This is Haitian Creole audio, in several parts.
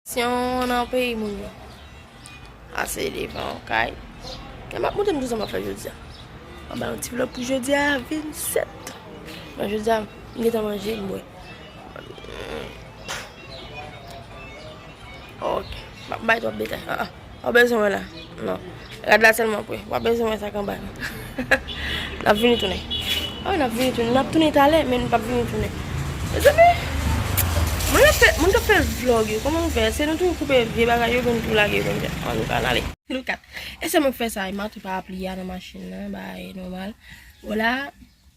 Syon nan peyi moun yo. Ase devan kay. Kè map moute mtou zanman fè jodia. Mwen ba yon ti vlog pou jodia 27. Mwen jodia mwen getan manje mwen. Ok. Mwen bay twop detay. Wap bezwen wè la non. Rad la selman pou wap bezwen wè sak anba yo. Nap vini tounen. Awi nap vini tounen. Nap tounen talè men nou pap vini tounen. Mezanmi. Moun ap fè moun kap fè vlog yo koman nou fè se nou tou koupe vye bagay yo poun tou lage yo konsa. An nou ka nale. Nou kat. Esèm ap fè sa e matou pa ap li a nan machin nan ba e nomal. Wala.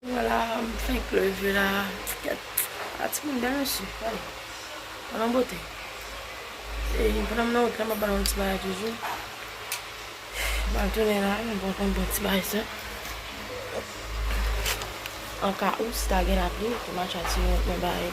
Wala m fenk leve la ti tèt a ti moun bèl mesye gade gad yon bote e pandan m nan wout la map bal yon ti bagay toujou map tounen la m pran yon bon ti bagay sa an ka ou si ta gen lapli pou m al chache yon bagay.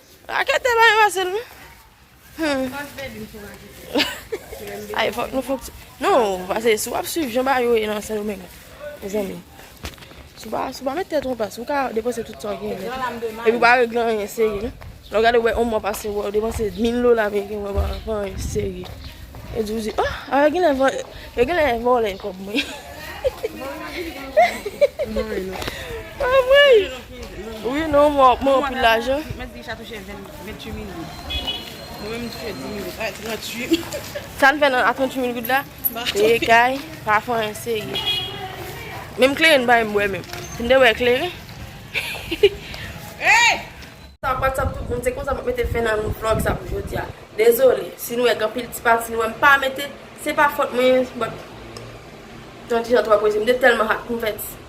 Rakete bay vase l non Non pase si w ap swiv jan bagay yo ye nan Sendomeng mezanmi si w pa met tèt w anplas ou ka depanse tout sa w genyen nèt epi w pa regle anyen serye non Lè w gade wè yon mwa pase wè w depanse mil dola ameriken wè w pa fè anyen serye yo di w di a yo genlè vòlè kòb mwen Anmweyy Wi non mwen ap mwen anpil lajan. Mwen deja touche 28 mil goud. Mwen menm touche 10 mil goud. A 38 mil. Sa n fè nan a 38 mil goud la? Peye kay, pa fon an serye. Menm kleren n bay m bwè menm. Fin de bwè kleren. Hey! Sa pat sa tout bon se konsa map mete fen nan vlog sa pou jodia dezole si nou wè gen anpil ti pati nou wèm pa mete se pa fòt mwen but tandijan twa koze m te tèlman hot m fè ti.